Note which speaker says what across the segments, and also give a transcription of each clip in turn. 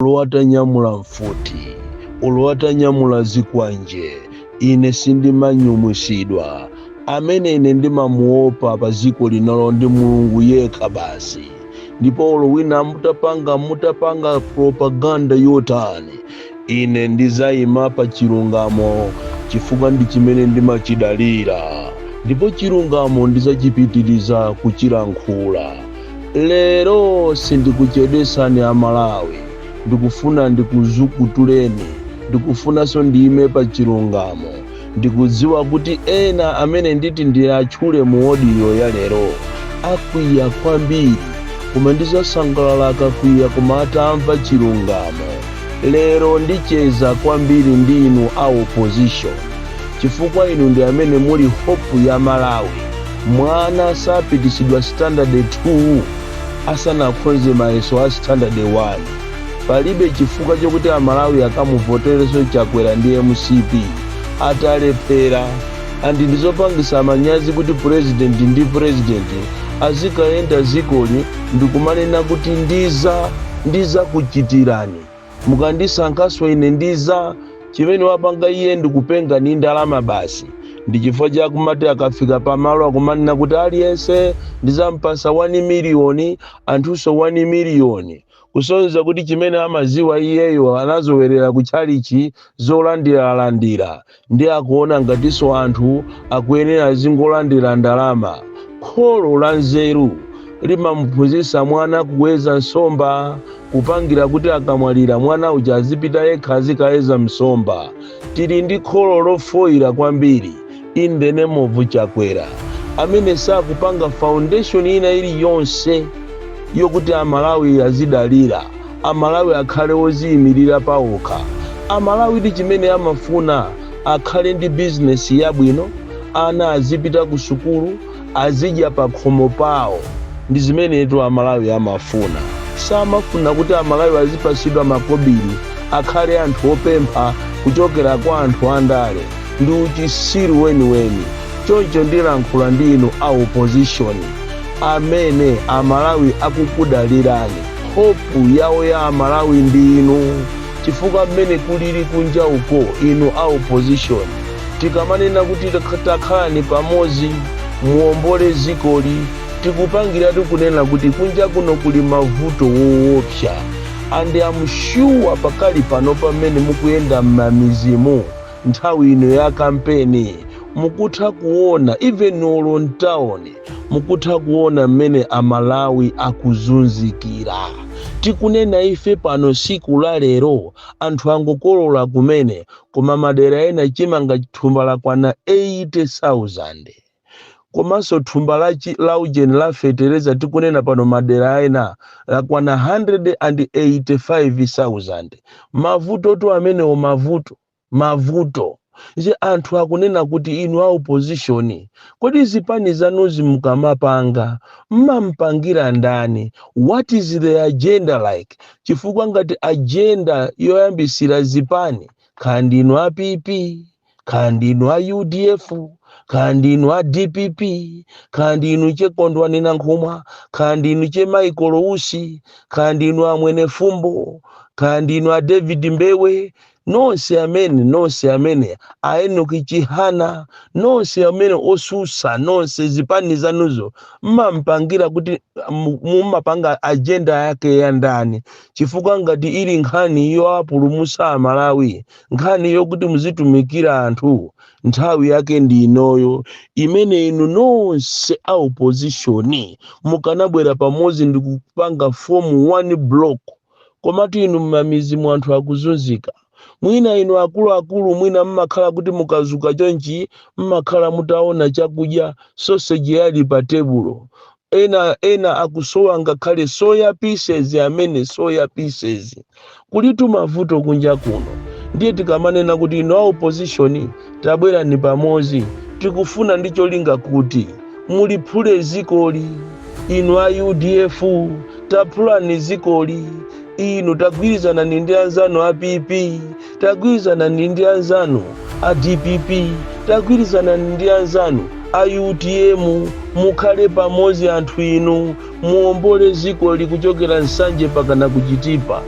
Speaker 1: olo atanyamula mfuti olo atanyamula zikwanje ine sindimanyumwitsidwa amene ine ndimamuopa pa dziko lino ndi mulungu yekha basi ndipo olo wina mutapanga mutapanga propaganda yotani Ine ndidzaima pa chilungamo chifukwa ndi chimene ndimachidalira, ndipo chilungamo ndidzachipitiriza kuchilankhula. Lero sindikuchedwetsani a Malawi, ndikufuna ndikuzukutuleni, ndikufunanso ndiime pa chilungamo. Ndikudziwa kuti ena amene nditi ndiwatchule mu odiyo ya lero akwiya kwambiri, koma ndizasangalala akakwiya koma atamva chilungamo. Lero ndicheza kwambiri ndi inu a opposition chifukwa inu ndi amene muli hope ya Malawi. Mwana sapititsidwa standard 2 asanakhonze mayeso a standard 1. palibe chifukwa chokuti amalawi akamuvoterenso chakwera ndi mcp atalephera and ndi zopangitsa manyazi kuti president president azikayenda m'zikoli ndikumanena kuti ndiza ndizakuchitirani mukandisankhanso ine ndiza chimene wapanga iye ndikupenga ndi ndalama basi ndi chifukwa chakumati akafika pamalo akumanena kuti aliyense ndizampasa 1 miliyoni anthunso 1 miliyoni kusonyeza kuti chimene amaziwa iyeyo anazowerera ku tchalitchi zolandiralandira nde akuona ngatinso anthu akuyenera azingolandira ndalama kholo la nzeru limamuphunzitsa mwana kuweza nsomba kupangira kuti akamwalira mwana uja azipita yekha azikaweza nsomba tili ndi kholo lofoyira kwambiri in the name of chakwera amene sakupanga foundation ina iliyonse yokuti amalawi azidalira amalawi akhale oziyimira paokha amalawi ndi chimene amafuna akhale ndi bizinesi yabwino ana azipita ku sukulu azidya pakhomo pawo ndizimenetu amalawi amafuna samafuna kuti amalawi azipatsidwa makobili akhale anthu opempha kuchokera kwa anthu andale ndi uchitsiru weniweni choncho ndilankhula ndi inu a opposition amene amalawi akukudalirani hopu yawo ya amalawi ndi inu chifukwa mmene kulili kunja uko inu a opposition Tikamanena kuti Takhalani Pamodzi, Muwombole Dzikoli, tikupangiratu kunena kuti kunja kuno kuli mavuto woopsa and am sure pakali pano pamene mukuyenda m'mamidzimu nthawi ino ya kampeni mukutha kuona even olo m'town mukutha kuona m'mene a Malawi akuzunzikira. Tikunena ife pano tsiku la lero anthu angokolola kumene koma madera ena chimanga thumba lakwana 80,000 komanso thumba la, chi- la ujeni la fetereza tikunena pano madera ena lakwana 185,000 mavutotu amenewo mavuto mavuto nje anthu akunena kuti inu a opposition kodi zipani zanuzi mukamapanga mmampangira ndani what is the agenda like chifukwa ngati ajenda yoyambisira zipani kaya ndinu a pp kaya ndinu a udf kaya ndinu a dpp kaya ndinu che kondwani nankhumwa kaya ndinu che michael usi kaya ndinu a mwenifumbo kaya ndinu a david mbewe nonse amene nonse amene a Enock Chihana nonse amene osusa nonse zipani zanuzo mmampangira kuti mu- mumapanga ajenda yake ya ndani chifukwa ngati ili nkhani yoapulumusa amalawi nkhani yokuti muzitumikira anthu nthawi yake ndi inoyo imene inu nonse a opozishoni mukanabwera pamodzi ndi kupanga fomu one block Komatu inu mmamidzimu anthu akuzunzika. Mwina inu akuluakulu mwina mmakhala kuti mukazuka chonchi mmakhala mutaona chakudya sausage yali pa tebulo. Ena ena akusowa ngakhale soya pieces amene soya pieces. Kulitu mavuto kunja kuno. Ndiye tikamanena kuti inu a opposition. tabwerani pamodzi tikufuna ndi cholinga kuti muliphule zikoli inu a udf taphulani zikoli inu tagwirizanani ndi anzanu a pp tagwirizanani ndi anzanu a dpp tagwirizanani ndi anzanu a utm mukhale pamodzi anthu inu muombole zikoli kuchokera nsanje pakana kuchitipa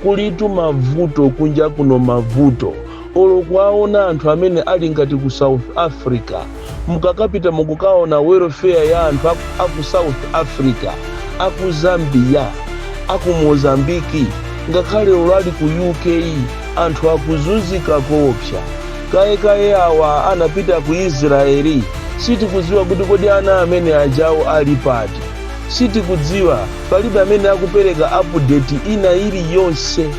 Speaker 1: kulitu mavuto kunja kuno mavuto Olo kuwaona anthu amene ali ngati ku south africa mukapita mukukaona welfare ya anthu a aku south africa, aku zambia, aku mozambique ngakhale olo ali ku UK anthu akuzunzika koopsa. Kaye kaye awa anapita ku israel sitikudziwa kuti kodi ana amene ajawo ali pati? Sitikudziwa palibe amene akupeleka update ina iliyonse.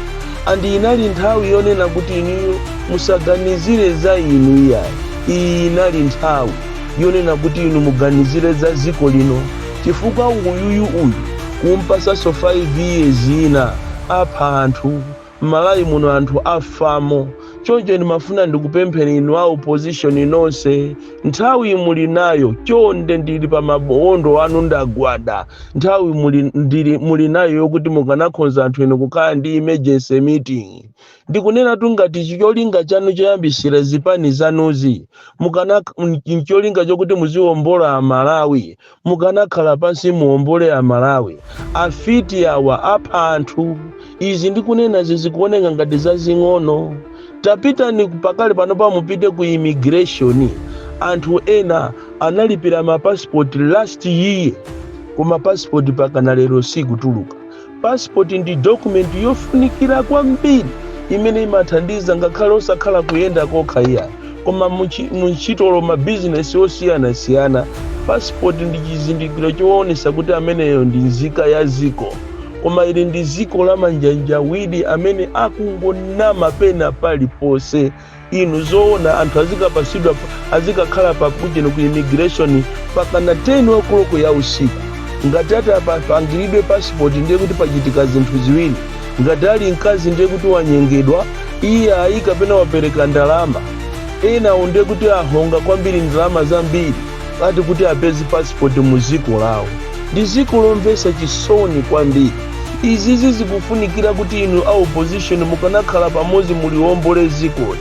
Speaker 1: and inali nthawi yonena kuti inuyo musaganizire za inu iyayi iyi inali nthawi yonena kuti inu muganizire za dziko lino chifukwa uyuyu uyu kumpasanso 5 years ina apha anthu m'malawi muno anthu afa muno choncho ndimafuna ndikupempheni inu a opposition nonse Nthawi muli nayo, chonde ndili pa mabondo anu ndagwada. Nthawi muli, ndili, muli nayo yokuti mukanakhonza anthu inu kukhala ndi emergency meeting. Ndikunenatu ngati cholinga chanu choyambisira zipani zanuzi ncholinga chokuti muziwombola Amalawi, Mukanakhala pansi muombole a Malawi. Afiti awa apha anthu. Izi ndikunenazi zikuoneka ngati zazing'ono. Tapitani pakali panopa mupite ku immigration. Anthu ena analipira ma passport last year koma passport pakana lero sikutuluka. Pasipoti ndi dokumenti yofunikira kwambiri imene imathandiza ngakhale osakhala kuyenda kokha iyayi, koma mu ntchito olo mabizinesi osiyanasiyana. Pasipoti ndi chizindikiro choonesa kuti ameneyo ndi nzika ya dziko. Koma ili ndi dziko la manjanjawidi amene akungonama pena paliponse. inu zoona anthu azikapatsidwa azikakhala pa queue ku immigration pakana 10 o'clock ya usiku ngati ati apangiridwe pasipoti ndiye kuti pachitika zinthu ziwiri ngati ali mkazi ndiye kuti wanyengedwa iyayi kapena wapereka ndalama enawo ndiye kuti ahonga kwambiri ndalama zambiri ati kuti apeze pasipoti mu dziko lawo ndi dziko lomvetsa chisoni kwambiri izizi zikufunikira kuti inu a opposition mukanakhala pamodzi muliombole dzikoli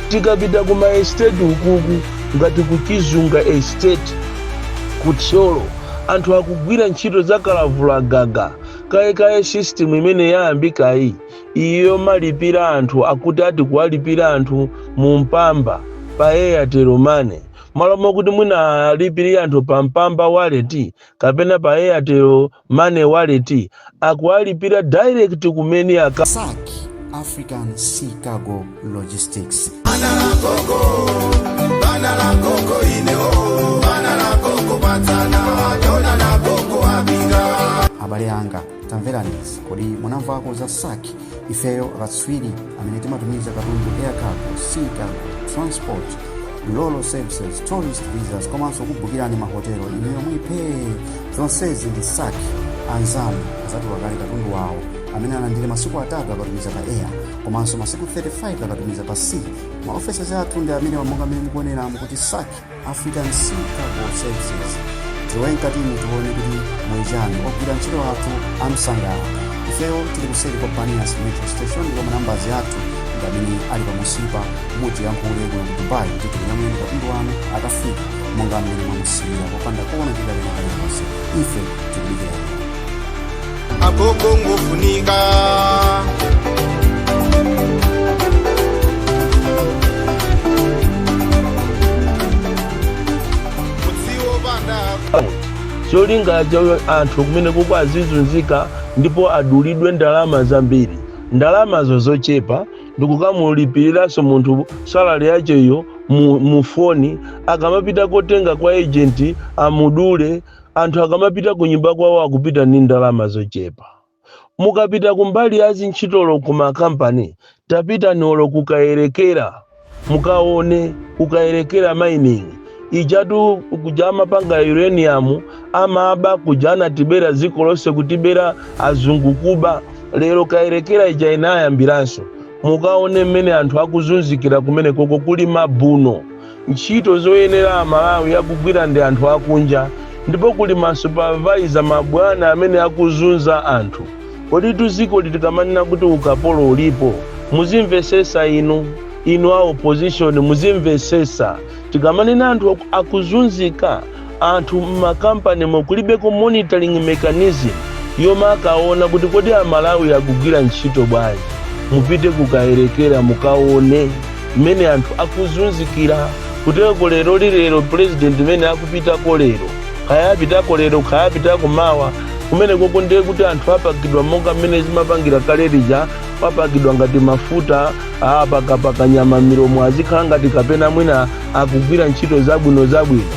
Speaker 1: tikapita ku maesteti ukuku ngati kuchizunga esteti ku thyolo anthu akugwira ntchito za kalavula gaga kaye kaye system imene yayambikayi iyo yomalipira anthu akuti ati kuwalipira anthu mu mpamba pa airtel money m'malo mokuti mwina alipire anthu pa mpamba wallet kapena pa airtel money wallet akuwalipira direct kumene aka. Sac African Sea Cargo Logistics. Bana la gogo, bana la gogo ineo, bana la gogo batana, dona la gogo abinga. abale anga tamverani izi kodi munamvako za sac ifeyo akatswiri amene timatumiza katundu air cargo sea cargo transport roro services tourist visas komanso kubukirani mahotelo inu yomwe pee zonsezi ndi sak anzanu azatuka kale katundu wawo amene analandira masiku atatu akatumiza pa air komanso masiku 35 akatumiza pa sea maofesi athu ndi amene monga mmene mukuonera kuti sak afika msika ku services tilowe mkati muno tione kuti mwachana ogwira ntchito athu amsangala ifeyo tili kuseri kwa baniyas metro station ndipo manambazi athu ndi amene ali pamunsipa mutiyankhule kuno ku dubai kuti tinyamule katundu wanu akafika monga mmene mwamusiyira popanda kuona chilema chilichonse ife tikukudikirani agogo ngofunika mudziwo pandako cholinga cha anthu kumene kuko azizunzika ndipo adulidwe ndalama zambiri ndalamazo zochepa ndikukamulipiriranso munthu salari yacheyo mu, mu foni akamapita kotenga kwa ejenti amudule anthu akamapita ku nyumba kwawo akupita ali ndi ndalama zochepa mukapita kumbali ya zintchitolo ku makampani tapitani olo ku kayerekera mukaone ku kayerekera mining ijatu kuja amapanga uranium amaba kuja anatibera dziko lonse kutibera azungu kuba lero kayerekera ija inayambiranso mukaone mmene anthu akuzunzikira kumene koko kuli mabuno Ntchito zoyenera a Malawi akugwira ndi anthu akunja ndipo kuli ma supervisor, ma bwana amene akuzunza anthu. Koditu dzikoli tikamanena kuti ukapolo ulipo muzimvesesa inu, inu a opposition muzimvesesa tikamanena anthu akuzunzika. anthu m'makampanimo kulibeko monitoring mechanism yomakaona kuti kodi amalawi akugwira ntchito bwanji mupite ku kayerekera mukaone mmene anthu akuzunzikira kutereko leroli lero president mmene akupitako lero kaya apitako lero kaya apitako mawa kumene koko ndiye kuti anthu apakidwa monga mmene zimapangira kale lija wapakidwa ngati mafuta apakapaka nyama milomo azikhala ngati kapena mwina akugwira ntchito zabwino zabwino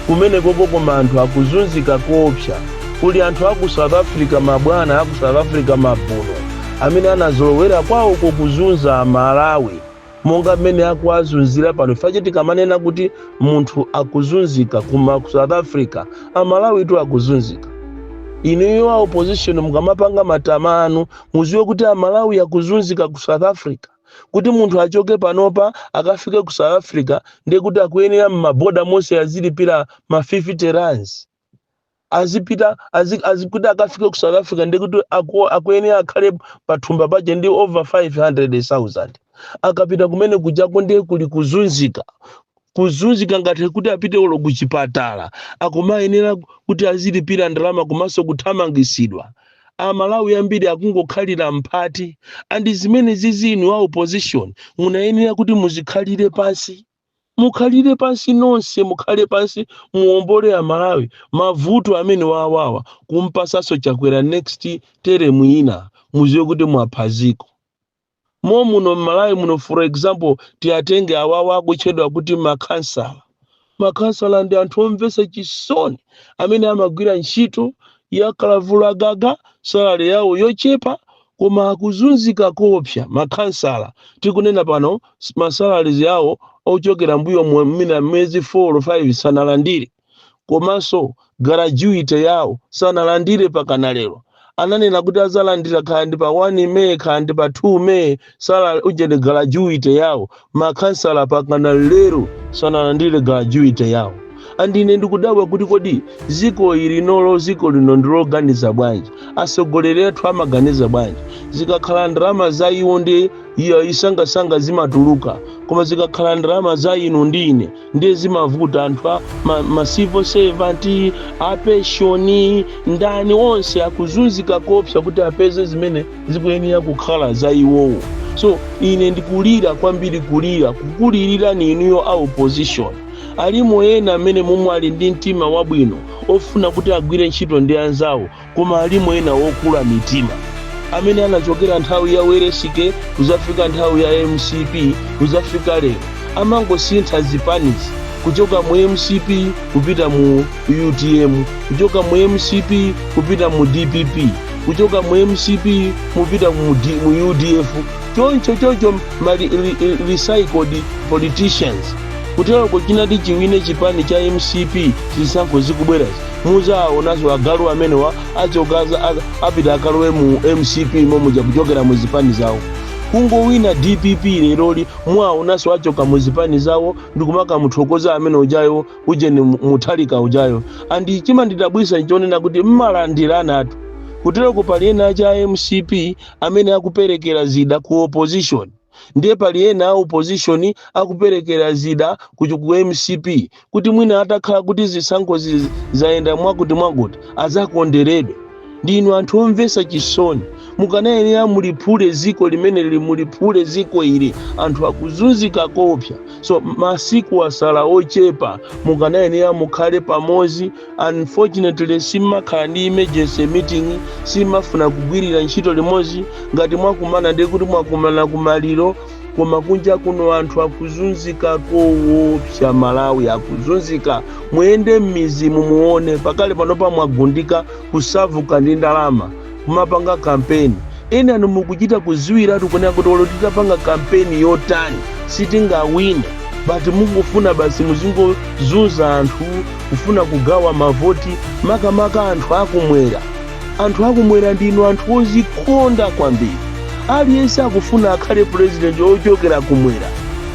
Speaker 1: kumenekoko koma anthu akuzunzika koopsa kuli anthu aku south africa mabwana aku south africa mabuno amene anazolowera kwawoko kuzunza amalawi monga mmene akuwazunzira pano ifache tikamanena kuti munthu akuzunzika kuma ku south africa amalawitu akuzunzika inuyo a opposition mukamapanga matama anu muziwe kuti amalawi akuzunzika ku south africa kuti munthu achoke panopa akafike ku south africa ndiye kuti akuyenera m'maboda monse azilipira ma 50 rands azipita azi, azikuti akafike ku south africa ndiye kuti aku, akuyenera akhale pathumba pache ndi over 500000 akapita kumene kujako ndiye kuli kuzunzika kuzunzika ngati kuti apite olo kuchipatala akumayenera kuti azilipira ndalama komanso kuthamangisidwa amalawi ambiri akungokhalira mphati andi zimene zizi inu a opposition munayenera kuti muzikhalire pansi mukhalire pansi nonse mukhale pansi muombole amalawi mavuto amene wawawa kumpasanso chakwera next teremu ina muziwe kuti mwaphaziko momuno mmalawi muno for example tiatenge awawa akutchedwa kuti makhansala makhansala ndi anthu omvetsa chisoni amene amagwira ntchito ya kalavulagaga salary yawo yochepa koma akuzunzika koopsa makhansala tikunena pano s- masalaries awo ochokera mbuyo mu- mina miyezi 4 or 5 sanalandire komanso gratuity yawo sanalandire pakana lero ananena kuti azalandira kaya ndi pa 1 may kaya ndi pa 2 may sala ujeni gratuity yawo makhansala pakana lero sanalandire gratuity yawo andi ine ndikudabwa kuti kodi ziko ili nolo ziko lino ndi loganiza bwanji asogoleri athu amaganiza bwanji zikakhala ndalama za iwo ndi iwo nsangansanga zimatuluka koma zikakhala ndalama za inu ndi ine ndiye zimavuta anthu a ma, ma civil servant a penshoni ndani onse akuzunzika kopsa kuti apeze zimene zikuyenera kukhala za iwowo so ine ndikulira kwambiri kulira kukulilirani inuyo a opposition alimo ena amene momwe ali ndi mtima wabwino ofuna kuti agwire ntchito ndi anzawo Koma alimo ena okula mitima amene anachokera nthawi ya Welensky kuzafika nthawi ya mcp kuzafika lero amangosintha zipanizi kuchoka mu mcp kupita mu utm kuchoka mu mcp kupita mu dpp kuchoka mu mcp kupita mu, D, mu udf choncho choncho mali li- li- recycled politicians kuteroko chinati chiwine chipani cha mcp zisankho zikubwerazi muzaonanso agalu amenewa achoka aza- a- apita akalowe mu mcp momuja kuchokera mu zipani zawo kungowina dpp leroli muwaonanso achoka mu zipani zawo ndikumakamuthokoza amene ujayo ujeni mu- muthalika ujayo andi chimandidabwisa chonena kuti mmalandiranatu kutereko pali ena a cha mcp amene akuperekera zida ku opposition Ndiye pali ena a opposition akuperekera zida ku chi- ku mcp kuti mwina atakhala kuti zisankhozi zayenda mwakuti mwakuti azakonderedwe. Ndinu anthu omvetsa chisoni. Mukanayenera muliphule ziko limeneli muliphule ziko ili anthu akuzunzika koopsa. So masiku asala ochepa mukanayenera mukhale pamozi. unfortunately simumakhala ndi emergency meeting simumafuna kugwirira ntchito limodzi ngati mwakumana ndiye kuti mwakumana kumaliro koma kunja kuno anthu akuzunzika kowopsa amalawi akuzunzika muyende m'midzimu muone pakadali pano pomwe mwagundika kusakaza ndi ndalama kumapanga kampeni enanu mukuchita kudziwiratu kunena kuti olo titapanga kampeni yotani sitingawine but mukufuna basi muzingozunza anthu kufuna kugawa mavoti makamaka anthu akumwera anthu akumwera ndinu anthu ozikonda kwambiri aliyense akufuna akhale purezidenti ochokera kumwera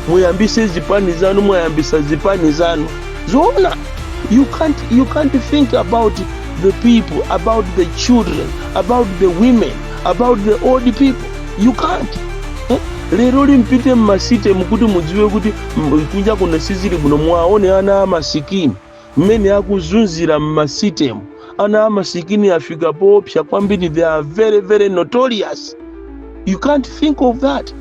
Speaker 1: muyambise zipani zanu mwayambisa zipani zanu zoona you can't, you can't think about the people about the children about the women about the old people you can't eh? leroli mupite mmasitemu kuti mudziwe kuti kunja kuno sizili bwino muwaone ana amasikini mmene akuzunzira mmasitemu ana amasikini afika poopsa kwambiri they are very very notorious you can't think of that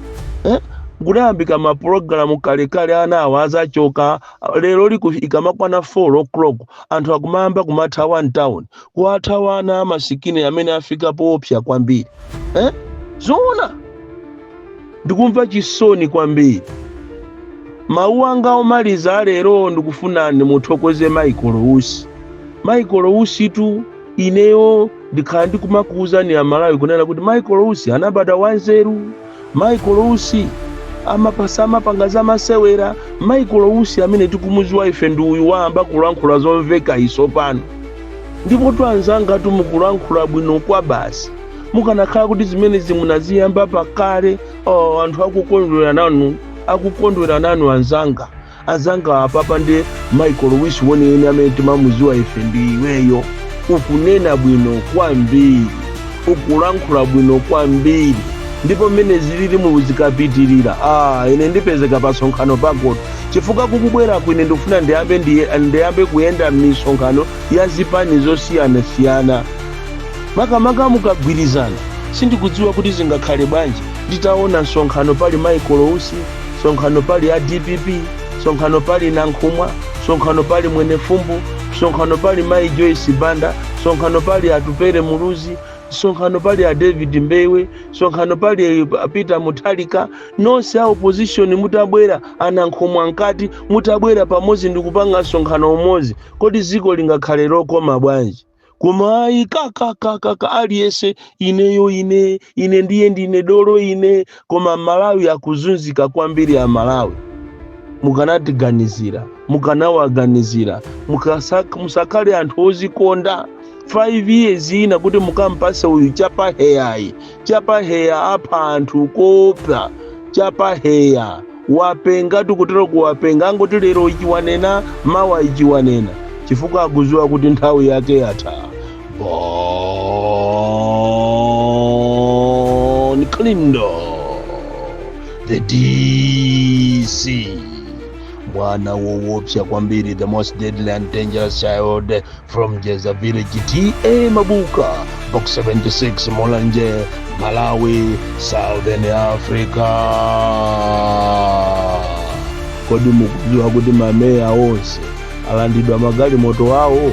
Speaker 1: eh? kudayambika mapulogalamu kalekale ana awo azachoka leroli ikamakwana 4 o'clock anthu akumayamba kumathawa mtown kuwathawa ana amasikini amene afika poopsa kwambiri eh? zoona ndikumva chisoni kwambiri mawu anga omaliza alero ndikufuna nimuthokoze michael usi michael usitu ineyo ndakhala ndikumakuwuzani amalawi kunena kuti michael usi anabada wanzeru Michael Usi ama- samapanga za masewera. Michael Usi amene timamuziwa ife ndi uyu wayamba kulankhula zomveka izo pano. Ndipotu anzangatu mukulankhula bwino kwabasi. Mukanakhala kuti zimenezi munaziyamba pakale, oh, anthu akukondwera nanu, akukondwera nanu anzanga. anzanga apapa nde michael usi weniweni amene timamuziwa ife ndi iweyo ukunena bwino kwambiri ukulankhula bwino kwambiri ndipo mmene zililimu zikapitirira ah, ine ndipezeka pa msonkhano pakotu chifukwa kukubweraku ine ndikufuna ndiyambe kuyenda m'misonkhano ya zipani zosiyanasiyana makamaka mukagwirizana sindikudziwa kuti zingakhale bwanji nditaona msonkhano pali michael usi msonkhano pali a dpp msonkhano pali nankhumwa msonkhano pali mwenifumbo msonkhano pali mayi joyce banda msonkhano pali atupele muluzi msonkhano pali a david mbewe msonkhano pali a peter mutharika nonse a opposition mutabwera anankhumwa mkati mutabwera pamodzi ndikupanga msonkhano umodzi kodi dziko lingakhale lokoma bwanji koma ayi kakakakaka aliyese ineyo ine ine ndiye ndine dolo ine koma malawi akuzunzika kwambiri a malawi mukanatiganizira mukanawaganizira mukasa- musakhale anthu ozikonda 5 years ina kuti mukampase uyu Chakwerayi Chakwera wapha anthu koopsa Chakwera wapenga tikutero kuwapenga angoti lero ichi wanena mawa ichi wanena chifukwa akuziwa kuti nthawi yake yatha bon kalindo the dc mwana wowopsa kwambiri the most deadly and dangerous child from Jeza Village TA Mabuka, Box 76 Mulanje, Malawi, Southern Africa. Kodi mukudziwa kuti mameya onse alandidwa magalimoto awo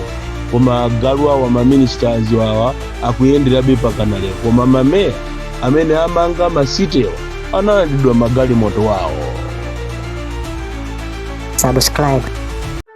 Speaker 1: koma agalu awa maministers awa akuyenderabe pakana lero koma mameya amene amanga masitewa analandidwa magalimoto awo subscribe